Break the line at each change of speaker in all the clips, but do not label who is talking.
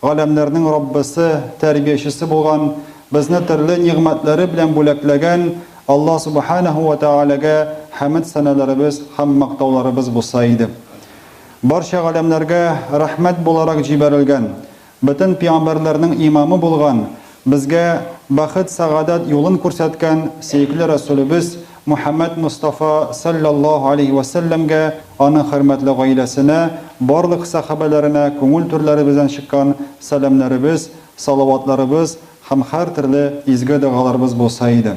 Галәмнәрнең Раббысы, Тәрбиячесе булган, безне төрле нигъмәтләре белән бүләкләгән Алла Субханәһү вә Тәгаләгә хәмед-сәналарыбыз һәм мактауларыбыз булса иде. Барча галәмнәргә рәхмәт буларак җибәрелгән, бөтен пигамбәрләрнең имамы булган Безгә бәхет сәгадәт юлын күрсәткән сөекле Рәсүлебез Мөхәммәд Мостафа салләллаһу алейһи вә сәлләмгә, аның хөрмәтле гаиләсенә, барлык сәхабәләренә күңел түрләребездән чыккан сәламнәребез, салаватларыбыз һәм һәртөрле изге догаларыбыз булса иде.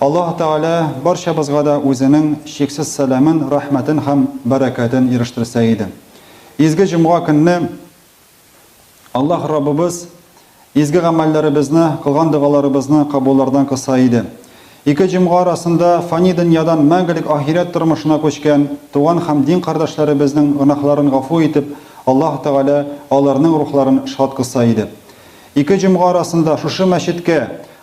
Аллаһ Тәгалә барчабызга да үзенең чиксез сәламен, рәхмәтен һәм бәрәкәтен ирештерсә иде. Изге җомга көнне Аллаһ Раббыбыз изге гамәлләребезне, кылган догаларыбызны кабуллардан кыса иде. Ике җомга арасында фани дөньядан мәңгелек ахирәт тормышына күчкән туган һәм дин кардәшләребезнең гөнаһларын гафу итеп, Аллаһ Тәгалә аларның рухларын шат кыса иде. Ике җомга арасында шушы мәчеткә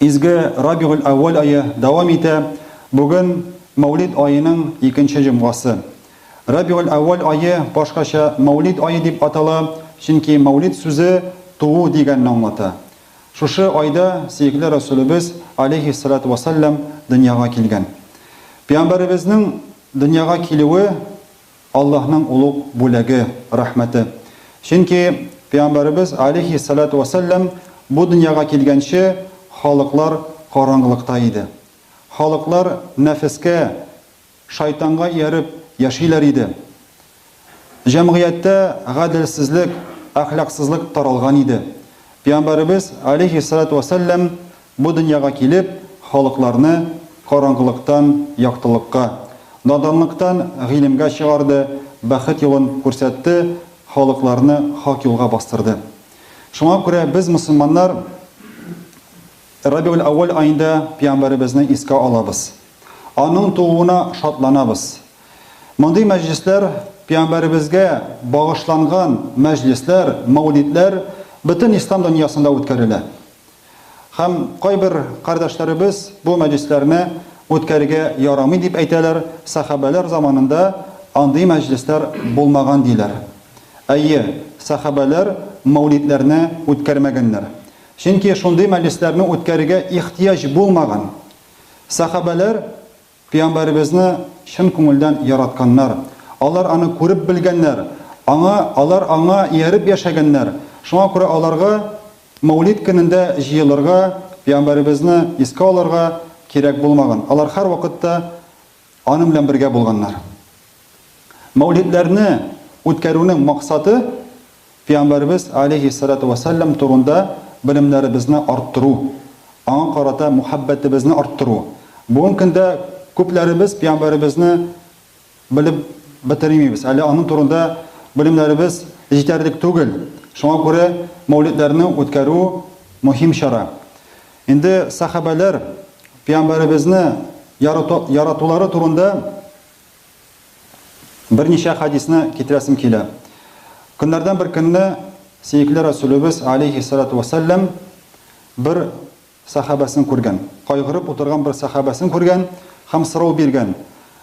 Изге Рабигуль-әүвәл ае дәвам итә, бүген Мәүлид аеның икенче җомгасы. Рабигуль-әүвәл ае башкача Мәүлид ае дип атала, чөнки Мәүлид сүзе туу дигәнне аңлата. Шушы айда сөекле Рәсүлебез, алейһиссәлатү вәссәлам, дөньяга килгән. Пәйгамбәребезнең дөньяга килүе, Аллаһның олуг бүләге, рәхмәте. Чөнки Пәйгамбәребез, алейһи ссәлату вә сәлләм, бу дөньяга килгәнче, халыклар караңгылыкта иде. Халыклар нәфескә, шайтанга ияреп яшиләр иде. Җәмгыятьтә гаделсезлек, әхлаксызлык таралган иде. Пәйгамбәребез, алейһи ссәлату вә сәлләм, Бу дөньяга килеп, халыкларны караңгылыктан яктылыкка, наданлыктан гыйлемгә чыгарды, бәхет юлын күрсәтте, халыкларны хак юлга бастырды. Шуңа күрә без, мөселманнар, Рабигуль-әүвәл аенда Пәйгамбәребезне искә алабыз. Аның тууына шатланабыз. Мондый мәҗлесләр, Пәйгамбәребезгә багышланган мәҗлесләр, мәүлидләр бөтен ислам дөньясында үткәрелә. Һәм кайбер кардәшләребез бу мәҗлесләрне үткәрергә ярамый дип әйтәләр, сәхабәләр заманында андый мәҗлесләр булмаган диләр. Әйе, сәхабәләр мәүлидләрне үткәрмәгәннәр. Чөнки шундый мәҗлесләрне үткәрергә ихтыяҗ булмаган. Сәхабәләр Пөйамбәребезне чын күңелдән яратканнар, алар аны күреп белгәннәр, аңа, алар аңа ияреп яшәгәннәр, шуңа күрә аларга Мәүлид көнендә җыелырга, пөйамбәребезне искә алырга кирәк булмаган, алар һәрвакытта аның белән бергә булганнар. Мәүлидләрне үткәрүнең максаты, Пәйгамбәребез, алейһиссалату вәссәлам, турында белемнәребезне арттыру, аңа карата мөхәббәтебезне арттыру. Бүген көндә күпләребез Пәйгамбәребезне белеп бетермибез, әле аның турында белемнәребез җитәрлек түгел. Шуңа күрә мәүлидләрне үткәрү мөһим чара. Инде сәхабәләр Пәйгамбәребезне яратулары турында Берничә хәдисне китерәсем килә. Көннәрдән бер көнне сөекле Рәсүлебез, алейһиссалату вәссәлам, бер сәхабәсен күргән. Кайгырып утырган бер сәхабәсен күргән һәм сорау биргән,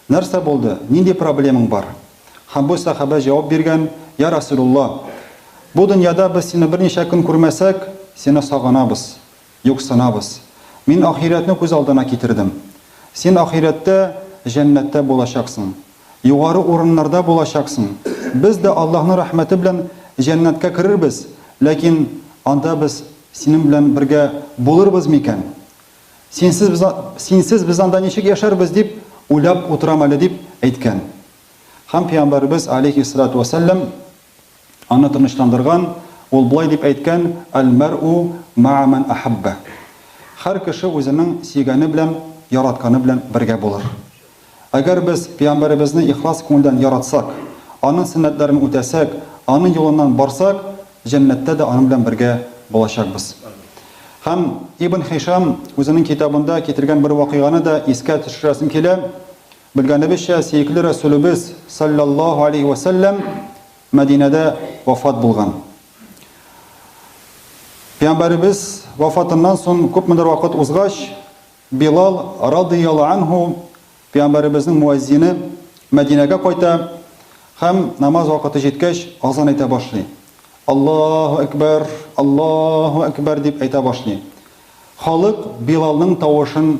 Нәрсә булды? Нинди проблемаң бар? Һәм бу сәхабә җавап биргән, Йа Рәсүлулла! Бу дөньяда без сине берничә көн күрмәсәк, сине сагынабыз. Юксынабыз. Мин ахирәтне күз алдына китердем. Син ахирәттә, җәннәттә булачаксың. Югары урыннарда булачаксың. Без дә Аллаһның рәхмәте белән җәннәткә керербез, ләкин анда без синең белән бергә булырбыз микән? Синсез без, синсез без анда ничек яшәрбез дип уйлап утырам әле, дип әйткән. Һәм пәйгамбәребез, алейһиссалату вәссәлам, Аны тынычландырган, ул болай дип әйткән, Әл-мәр'у мәа мән әһәббә. Һәр кеше үзенең сөйгәне белән, яратканы белән бергә булыр. Әгәр без Пәйгамбәребезне ихлас күңелдән яратсак, аның сөннәтләрен үтәсәк, аның юлыннан барсак, җәннәттә дә аның белән бергә булачакбыз. Һәм Ибн Хишам үзенең китабында китергән бер вакыйганы да искә төшерәсем килә. Белгәнебезчә, сөекле Рәсүлебез, салләллаһу галәйһи вә сәлләм, Мәдинәдә вафат булган. Пәйгамбәребез вафатыннан соң күпмедер вакыт узгач, Билал радыйяллаһу анһу, Пәйгамбәребезнең муәззине, Мәдинәгә кайта һәм намаз вакыты җиткәч, азан әйтә башлый. Аллаһу әкбәр, Аллаһу әкбәр дип әйтә башлый. Халык Билалның тавышын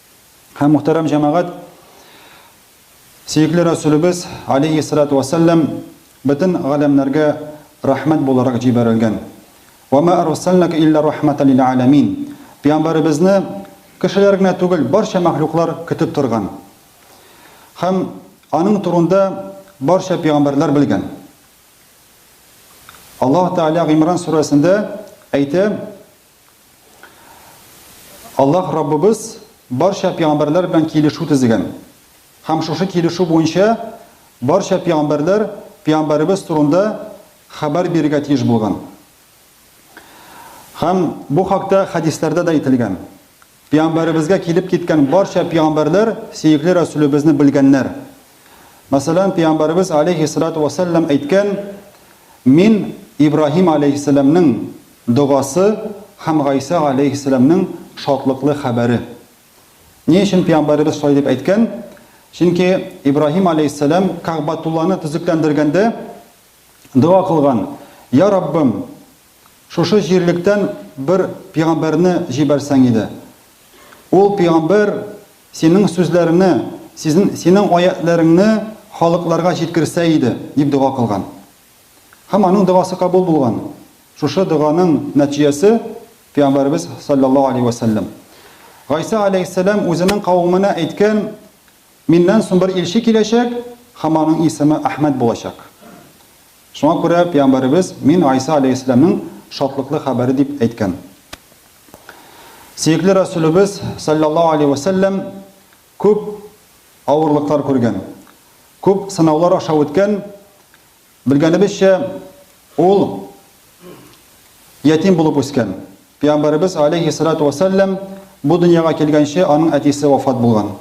Һәм, мөхтәрәм җәмәгать, сөекле Рәсүлебез, алейһиссалату вәссәлам, бөтен галәмнәргә рәхмәт буларак җибәрелгән. Вә мә әрсәлнәкә илля рәхмәтән лил әләмин. Пәйгамбәребезне кешеләр генә түгел, барча мәхлуклар көтеп торган. Һәм аның турында барча пәйгамбәрләр белгән. Аллаһ Тәгалә Гимран сүрәсендә әйтә, Аллаһ Раббыбыз барча пигамбәрләр белән килешү төзегән. Һәм шушы килешү буенча барча пигамбәрләр пигамбәребез турында хәбәр бирергә тиеш булган. Һәм бу хакта хәдисләрдә дә әйтелгән. Пиамбәребезгә килеп киткән барча пиамбәрләр сөекле Рәсүлебезне белгәннәр. Мәсәлән, пиамбәребез алейһиссалату вәссәлләм әйткән, Мин Ибраһим алейһиссәләмнең догасы һәм Гайсә галәйһиссәләмнең шатлыклы хәбәре. Ни өчен пиамбәребез шулай дип әйткән? Чөнки Ибраһим алейһиссәләм Кәгъбәтулланы төзекләндергәндә дога кылган, Я Раббым, Шушы җирлектән бер пигамбәрне җибәрсәң иде. Ул пигамбәр синең сүзләреңне, сизн, синең аятьләреңне халыкларга җиткерсә иде, дип дога кылган. Һәм аның догасы кабул булган. Шушы доганың нәтиҗәсе, пигамбәребез салләллаһу алейһи вә сәлләм, Гайсә алейһиссәлам үзенең кавеменә әйткән Миннән соң бер илче киләчәк, һәм аның исеме Әхмәд булачак. Шуңа күрә пәйгамбәребез, Мин Гайса аләйһиссәламнең шатлыклы хәбәре дип әйткән. Сөекле Рәсүлебез, салләллаһу аләйһи вә сәлләм, күп авырлыклар күргән, күп сынаулар аша үткән, Белгәнебезчә, ул ятим булып үскән. Пәйгамбәребез, алейһиссалату вәссәлам, бу дөньяга килгәнче, аның әтисе вафат булган.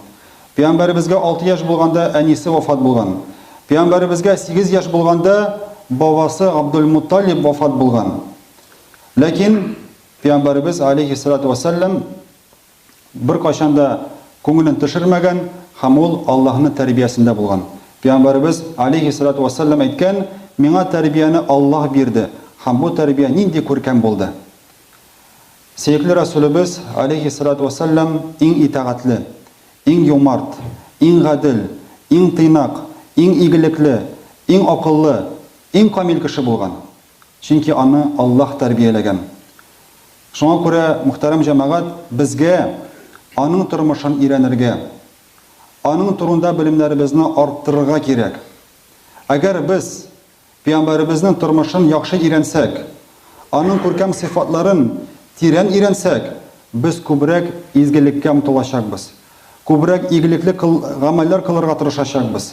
Пәйгамбәребезгә алты яшь булганда әнисе вафат булган. Пәйгамбәребезгә сигез яшь булганда бабасы Габдул-Мутталиб вафат булган. Ләкин Пәйгамбәребез, алейһиссалату вәссәлам, беркайчан да күңелен төшермәгән һәм ул Аллаһының тәрбиясендә булган. Пәйгамбәребез, алейһиссәлату вәссәлам, әйткән, Миңа тәрбияне Аллаһ бирде һәм бу тәрбия нинди күркәм булды! Сөекле Рәсүлебез, алейһиссәлату вәссәлам, иң итагатьле, иң юмарт, иң гадел, иң тыйнак, иң игелекле, иң акыллы, иң камил кеше булган. Чөнки аны Аллаһ тәрбияләгән. Шуңа күрә, мөхтәрәм җәмәгать, безгә аның тормышын өйрәнергә, аның турында белемнәребезне арттырырга кирәк. Әгәр без пәйгамбәребезнең тормышын яхшы өйрәнсәк, аның күркәм сыйфатларын тирән өйрәнсәк, без күбрәк изгелеккә омтылачакбыз, күбрәк игелекле гамәлләр кылырга тырышачакбыз.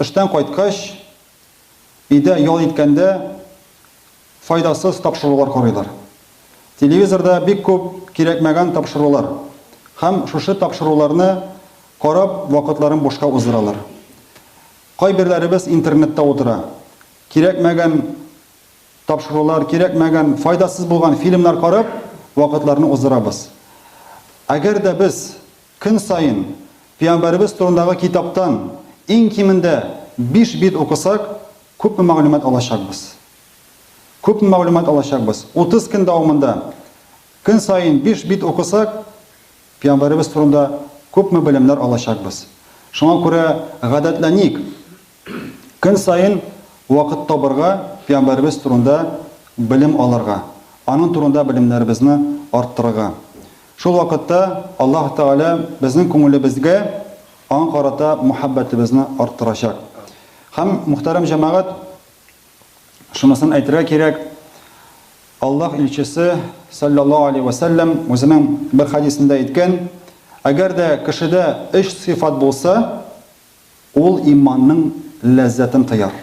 Эштән кайткач, өйдә ял иткәндә файдасыз тапшырулар карыйлар. Телевизорда бик күп кирәкмәгән тапшырулар һәм шушы тапшыруларны карап вакытларын бушка уздыралар. Кайберләребез интернетта утыра, кирәкмәгән тапшырулар, кирәкмәгән, файдасыз булган фильмнар карап вакытларны уздырабыз. Әгәр дә без Көн саен Пиямбәребез турындагы китаптан иң кимендә биш бит укысак, күпме мәгълүмат алачакбыз? Күпме мәгълүмат алачакбыз? Утыз көн дәвамында көн саен биш бит укысак, Пиямбәребез турында күпме белемнәр алачакбыз? Шуңа күрә гадәтләник! Көн саен вакыт табырга Пәйгамбәребез турында белем алырга, аның турында белемнәребезне арттырырга. Шул вакытта Аллаһ Тәгалә безнең күңелебезгә аңа карата мәхәббәтебезне арттырачак. Һәм, мөхтәрәм җәмәгать, шунысын әйтергә кирәк, Аллаһ илчесе, салләллаһу алейһи вә сәлләм, үзенең бер хәдисендә әйткән, Әгәр дә кешедә өч сыйфат булса, Ул иманның ләззәтен тыяр.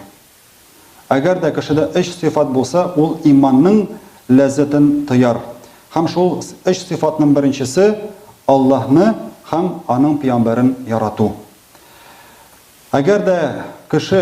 Әгәр дә кешедә өч сыйфат булса, ул иманның ләззәтен тыяр. Һәм шул өч сыйфатның беренчесе, Аллаһны һәм Аның пөямбәрен ярату. Әгәр дә кеше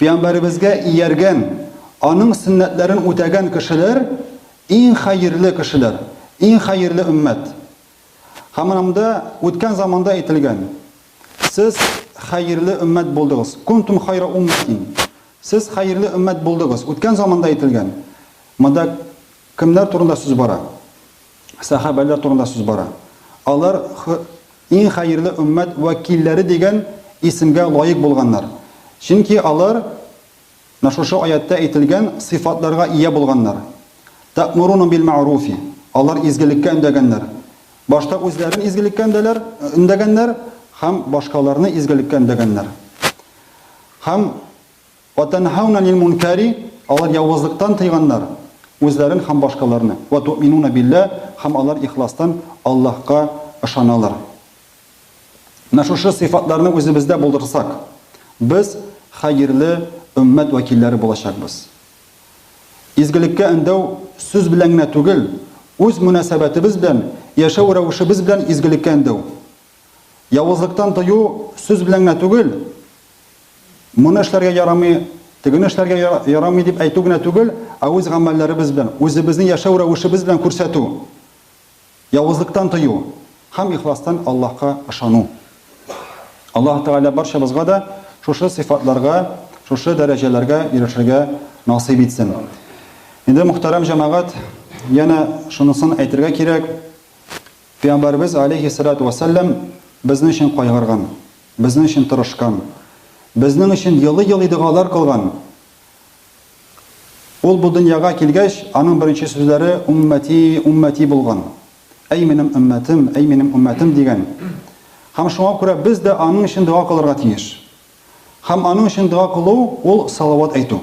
Пәйгамбәребезгә ияргән, аның сөннәтләрен үтәгән кешеләр, иң хәерле кешеләр, иң хәерле өммәт. Һәм анында үткән заманда әйтелгән, Сез хәерле өммәт булдыгыз. Кунтум хайра умматин. Сез хәерле өммәт булдыгыз. Үткән заманда әйтелгән. Монда кемнәр турында сүз бара? сәхабәләр турында сүз бара. Алар иң хәерле өммәт вәкилләре дигән исемгә лаек булганнар. Чөнки алар на шушы аятта әйтелгән сыйфатларга ия булганнар. Тә'муруна бил ма'руфи. Алар изгелеккә өндәгәннәр. Башта үзләрен изгелеккә өндәләр, өндәгәннәр һәм башкаларны изгелеккә өндәгәннәр. Һәм Вә тәнһәүнә анил мөнкәри, алар явызлыктан тыйганнар үзләрен һәм башкаларны. Вә туъминуна биллә, һәм алар ихластан Аллаһка ышаналар. Менә шушы сыйфатларны үзебездә булдырсак, без хәерле өммәт вәкилләре булачакбыз. Изгелеккә өндәү сүз белән генә түгел, үз мөнәсәбәтебез белән, яшәү рәвешебез белән изгелеккә өндәү. Явызлыктан тыю сүз белән генә түгел, моны эшләргә ярамый, тегене эшләргә ярамый дип әйтү генә түгел, ә үз гамәлләребез белән, үзебезнең яшәү рәвешебез белән күрсәтү. Явызлыктан тыю һәм ихластан Аллаһка ышану. Аллаһ Тәгалә барчабызга да шушы сыйфатларга, шушы дәрәҗәләргә ирешергә насыйп итсен. Инде мөхтәрәм җәмәгать, янә шунысын әйтергә кирәк, Пәйгамбәребез, галәйһиссәлатү вәссәлам, безнең өчен кайгырган, безнең өчен тырышкан, безнең өчен елый-елый догалар кылган. Ул бу дөньяга килгәч, аның беренче сүзләре Уммәти, уммәти булган. Әй минем өммәтем, әй минем өммәтем дигән. Һәм шуңа күрә без дә аның өчен дога кылырга тиеш. Һәм аның өчен дога кылу, ул салават әйтү.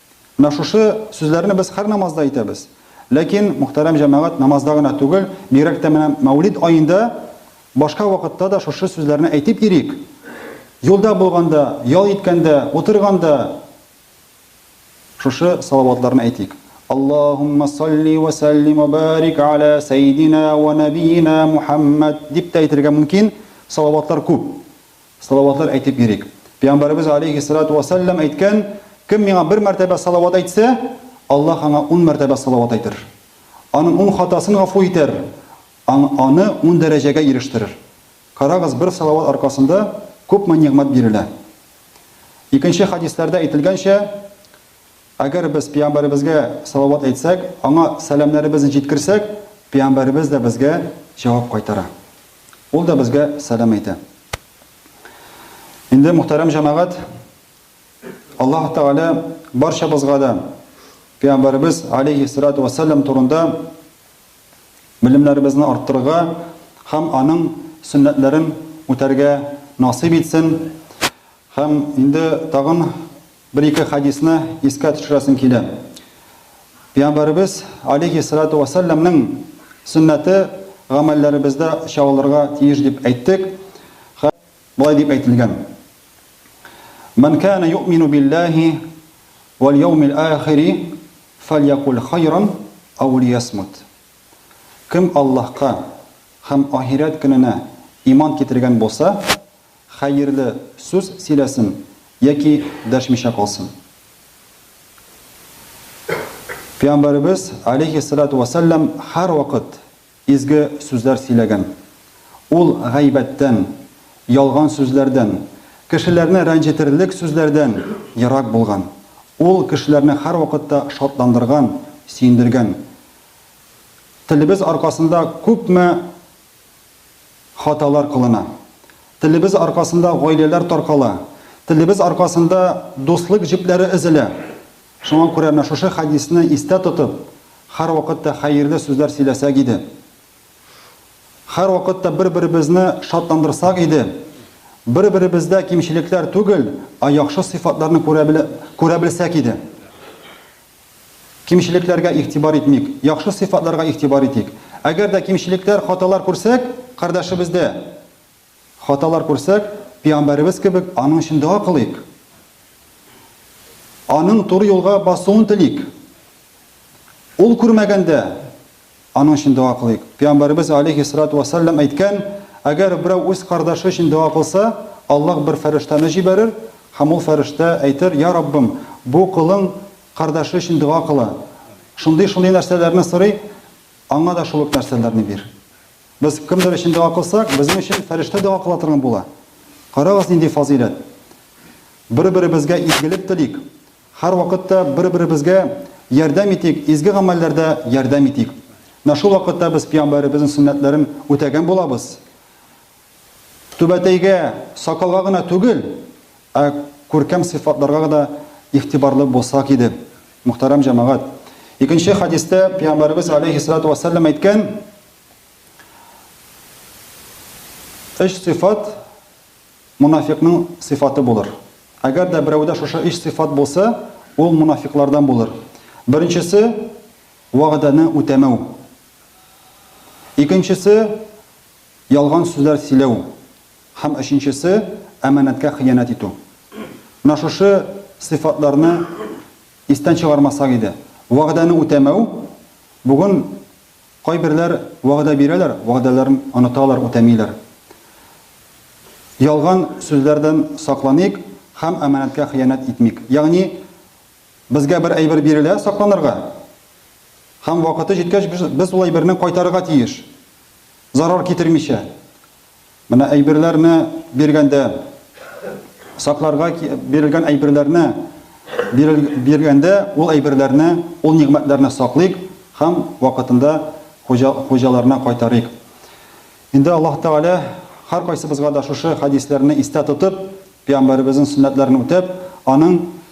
Менә шушы сүзләрне без һәр намазда әйтәбез. Ләкин, мөхтәрәм җәмәгать, намазда гына түгел, бигрәк тә менә Мәүлид аенда башка вакытта да шушы сүзләрне әйтеп йөрик. Юлда булганда, ял иткәндә, утырганда шушы салаватларны әйтик. Аллаһумма салли ва саллим ва барик аля сәйдина ва нәбиина Мухаммад дип тә әйтергә мөмкин, салаватлар күп. Салаватлар әйтеп йөрик. Пәйгамбәребез галәйһиссәлату вә сәлләм әйткән, Кем миңа бер мәртәбә салават әйтсә, Аллаһ аңа ун мәртәбә салават әйтер. Аның ун хатасын гафу итәр, аң аны ун дәрәҗәгә ирештерер. Карагыз, бер салават аркасында күпме нигъмәт бирелә. Икенче хәдисләрдә әйтелгәнчә, Әгәр без пәйамбәребезгә салават әйтсәк, аңа сәламнәребезне җиткерсәк, пәйамбәребез дә безгә җавап кайтара. Ул да безгә сәлам әйтә. Инде, мөхтәрәм җәмәгать, Аллаһ Тәгалә барчабызга да пәйамбәребез алейхи салату вассалам турында белемнәребезне арттырырга һәм аның сөннәтләрен үтәргә насыйп итсен. Һәм инде тагын Бер-ике хәдисне искә төшерәсем килә. Пәйгамбәребез, алейһи салату вә сәлләмнең сөннәте гамәлләребездә чагылырга тиеш дип әйттек. Хә, болай дип әйтелгән. Мән кәнә юъмину билләһи вәл яумил ахири фәльякуль хайран ау лиясмут. Кем Аллаһка һәм ахирәт көненә иман китергән булса, Хәерле сүз сөйләсен яки дәшмичә калсын. Пиамбәребез, алейһи салату вә сәлләм, һәрвакыт изге сүзләр сөйләгән. Ул гайбәттән, ялган сүзләрдән, кешеләрне рәнҗетерлек сүзләрдән ерак булган. Ул кешеләрне һәрвакытта шатландырган, сөендергән. Телебез аркасында күпме. Хаталар кылына. Телебез аркасында гаиләләр таркала. Телебез аркасында дуслык җепләре өзелә. Шуңа күрә менә шушы хәдисне истә тотып, һәрвакыт та хәерле сүзләр сөйләсәк иде. Һәрвакыт та бер-беребезне шатландырсак иде. Бер-беребездә кимчелекләр түгел, ә яхшы сыйфатларны күрә белсәк иде. Кимчелекләргә игътибар итмик, яхшы сыйфатларга игътибар итик. Әгәр дә кимчелекләр, хаталар күрсәк, кардәшебездә, хаталар күрсәк, пиамбәребез кебек, аның өчен дога кылыйк. Аның туры юлга басуын телик. Ул күрмәгәндә, Аның өчен дога кылыйк. Пәйгамбәребез алейһи салату вә сәлләм әйткән, Әгәр берәү үз кардашы өчен дога кылса, Аллаһ бер фәрештәне җибәрер һәм ул фәрештә әйтер, Я Раббым, бу колың кардашы өчен дога кыла, шундый-шундый нәрсәләрне сорый, аңа да шул ук нәрсәләрне бир. Без кемдер өчен дога кылсак, безнең өчен фәрештә дога кыла торган була. Карагыз, нинди фазыйләт! Бер-беребезгә изгелек телик, Һәрвакыт та бер-беребезгә ярдәм итик, изге гамәлләрдә ярдәм итик. Менә шул вакытта без Пиямбәребезнең сөннәтләрен үтәгән булабыз. Түбәтәйгә, сакалга гына түгел, ә күркәм сыйфатларга да игътибарлы булсак иде, мөхтәрәм җәмәгать. Икенче хәдистә Пиямбәребез галәйһиссәлату вә сәлам әйткән, Өч сыйфат, монафикъның сыйфаты булыр. Әгәр дә берәүдә шушы өч сыйфат булса, ул монафикълардан булыр. Беренчесе, вәгъдәне үтәмәү. Икенчесе, ялган сүзләр сөйләү. Һәм өченчесе, әманәткә хыянәт итү. Менә шушы сыйфатларны истән чыгармасак иде. Вәгъдәне үтәмәү, бүген Кайберләр вәгъдә бирәләр, вәгъдәләрен оныталар, үтәмиләр. Ялган сүзләрдән сакланыйк һәм әманәткә хыянәт итмик. Ягъни, безгә бер әйбер бирелә сакланырга һәм вакыты җиткәч без ул әйберне кайтарырга тиеш, зарар китермичә. Менә әйберләрне биргәндә, сакларга бирелгән әйберләрне биргәндә, ул әйберләрне, ул нигъмәтләрне саклыйк һәм вакытында хуҗаларына кайтарыйк. Инде Аллаһ Тәгалә һәркайсыбызга да шушы хәдисләрне истә тотып, пәйгамбәребезнең сөннәтләрен үтәп, аның